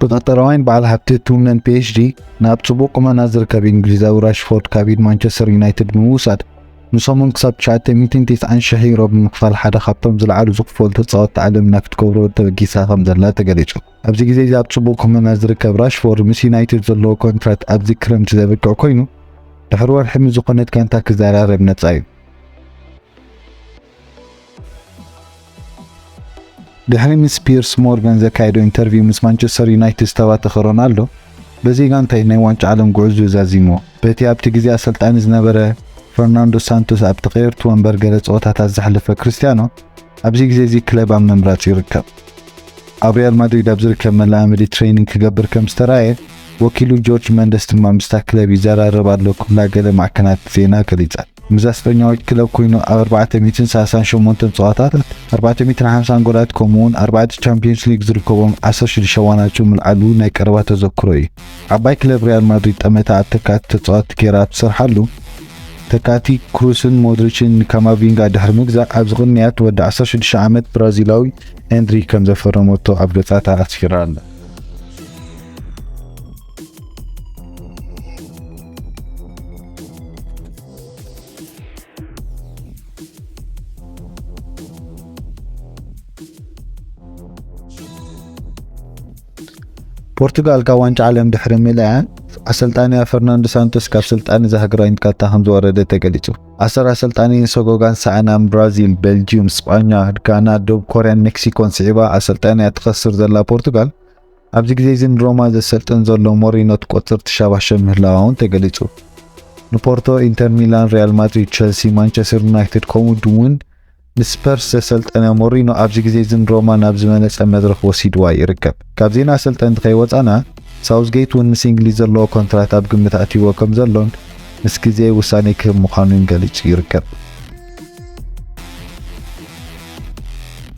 ብቀጠራዋይን በዓል ሃብቲ ሕክምናን ፒኤችዲ ናብ ጽቡቕ ቁመና ዝርከብ እንግሊዛዊ ራሽፎርድ ካብ ኢድ ማንቸስተር ዩናይትድ ብምውሳድ ንሰሙን ክሳብ 990 ሽሕ ዩሮ ብምኽፋል ሓደ ካብቶም ዝለዓሉ ዝኽፈሉ ተጻወትቲ ዓለምና ክትገብሮ ተበጊሳ ከም ዘላ ተገሊጹ። ኣብዚ ግዜ እዚ ኣብ ጽቡቕ ኩነና ዝርከብ ራሽፎርድ ምስ ዩናይትድ ዘለዎ ኮንትራት ኣብዚ ክረምቲ ዘብቅዕ ኮይኑ ድሕሪ ወርሒ ምስ ዝኾነት ጋንታ ክዘራረብ ነጻ እዩ። ድሕሪ ምስ ፒየርስ ሞርጋን ዘካየዶ ኢንተርቪው ምስ ማንቸስተር ዩናይትድ ዝተባተኸ ሮናልዶ፣ በዚ ጋንታይ ናይ ዋንጫ ዓለም ጉዕዝኡ ዛዚምዎ። በቲ ኣብቲ ግዜ ኣሰልጣኒ ዝነበረ ፈርናንዶ ሳንቶስ ኣብ ተቐየርቲ ወንበር ገለ ጸወታታት ዘሕለፈ ክርስትያኖ፣ ኣብዚ ግዜ'ዚ ክለብ ኣብ ምምራጽ ይርከብ። ኣብ ሪያል ማድሪድ ኣብ ዝርከብ መለማመዲ ትሬይኒንግ ክገብር ከም ዝተራእየ፣ ወኪሉ ጆርጅ መንደስ ድማ ምስታ ክለብ ይዘራረብ ኣሎ ክብላ ገለ ማዕከናት ዜና ገሊጸን። ምስዛ ስፐኛዊት ክለብ ኮይኑ ኣብ ኣርባዕተ ሚእትን ሳልሳን ሸሞንተን ጸዋታት ኣርባዕተ ሚእትን ሓምሳን ጎላት ከምኡ'ውን ኣርባዕተ ቻምፕዮንስ ሊግ ዝርከቦም ዓሰርተ ሽዱሽተ ዋናጩ ምልዓሉ ናይ ቀረባ ተዘክሮ እዩ። ዓባይ ክለብ ሪያል ማድሪድ ጠመታ ኣብ ተካእቲ ተጻወትቲ ገይራ ኣብ ትሰርሓሉ፣ ተካእቲ ክሩስን ሞድሪችን ንካማቪንጋ ድሕሪ ምግዛእ ኣብዚ ቅንያት ወዲ ዓሰርተ ሽዱሽተ ዓመት ብራዚላዊ ኤንድሪክ ከምዘፈረመቶ ኣብ ገጻታ ኣስፊራ ኣላ። ፖርቱጋል ካብ ዋንጫ ዓለም ድሕሪ ምልያ ኣሰልጣኒያ ፈርናንዶ ሳንቶስ ካብ ስልጣን እዛ ሃገራዊ ንካታ ከም ዝወረደ ተገሊጹ። ኣሰር ኣሰልጣኒ ሰጎጋን ሰኣናን ብራዚል፣ ቤልጅዩም፣ ስጳኛ፣ ጋና፣ ደቡብ ኮርያን ሜክሲኮን ስዒባ ኣሰልጣኒያ ትኸስር ዘላ ፖርቱጋል ኣብዚ ግዜ'ዚ ንሮማ ዘሰልጥን ዘሎ ሞሪኖ ትቆጽር ትሸባሸብ ምህላዋ'ውን ተገሊጹ። ንፖርቶ፣ ኢንተር ሚላን፣ ሪያል ማድሪድ፣ ቸልሲ፣ ማንቸስተር ዩናይትድ ከምኡ'ውን ንስፐርስ ዘሰልጠነ ሞሪኖ ኣብዚ ግዜ'ዚ ንሮማ ናብ ዝበለጸ መድረኽ ወሲድዋ ይርከብ። ካብ ዜና ኣሰልጠንቲ ከይወጻና ሳውዝጌት'ውን ምስ እንግሊዝ ዘለዎ ኮንትራት ኣብ ግምት ኣእትይዎ ከምዘሎን ምስ ግዜ ውሳኔ ክህብ ምዃኑን ገሊጹ ይርከብ።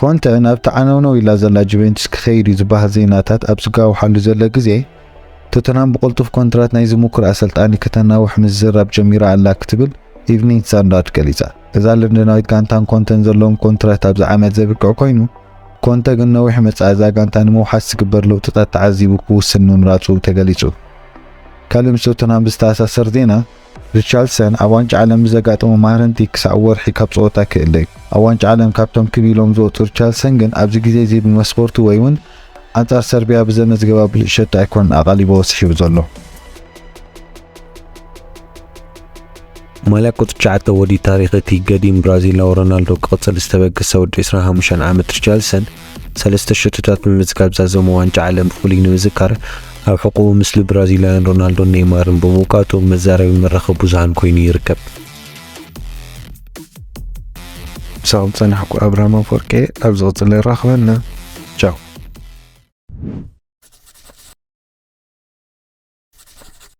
ኮንተ ናብቲ ዓነውነው ኢላ ዘላ ጁቬንቱስ ክኸይድ እዩ ዝበሃል ዜናታት ኣብ ዝጋውሓሉ ዘሎ ግዜ ቶተንሃም ብቕልጡፍ ኮንትራት ናይዚ ምኩር ኣሰልጣኒ ከተናውሕ ምዝራብ ጀሚራ ኣላ ክትብል ኢቭኒንግ ስታንዳርድ ገሊጻ። እዛ ለንደናዊት ጋንታን ኮንተን ዘለዎም ኮንትራት ኣብዚ ዓመት ዘብቅዕ ኮይኑ ኮንተ ግን ነዊሕ መጻኢ እዛ ጋንታ ንምውሓስ ዝግበር ለውጥታት ተዓዚቡ ክውስን ምምራጹ ተገሊጹ። ካልእ ምስ ቶተንሃም ብዝተኣሳሰር ዜና፣ ሪቻርልሰን ኣብ ዋንጫ ዓለም ብዘጋጠሞ ማህረምቲ ክሳዕ ወርሒ ካብ ጸወታ ክእለ እዩ። ኣብ ዋንጫ ዓለም ካብቶም ክብ ኢሎም ዝወጹ ሪቻርልሰን ግን ኣብዚ ግዜ'ዚ ብመስኮርቱ ወይ'ውን ኣንጻር ሰርብያ ብዘመዝገባ ብሉጽ ሸቶ ኣይኮነን ኣቓሊቡዎ ስሒቡ ዘሎ። ማልያ ቁጽሪ ትሽዓተ ወዲ ታሪኽ እቲ ገዲም ብራዚላዊ ሮናልዶ ክቕጽል ዝተበገሰ ወዲ ዕስራን ሓሙሽተን ዓመት ሪቻርልሰን፣ ሰለስተ ሸቶታት ብምምዝጋብ ዛዘሞ ዋንጫ ዓለም ብፍሉይ ንምዝካር ኣብ ሕቖኡ ምስሊ ብራዚላውያን ሮናልዶን ኔይማርን ብምውቃጡ መዛረቢ መራኸቢ ብዙሃን ኮይኑ ይርከብ። ምሳኹም ጸናሕኩ ኣብርሃም ኣፈወርቄ ኣብ ዝቕጽል የራኽበና ቻው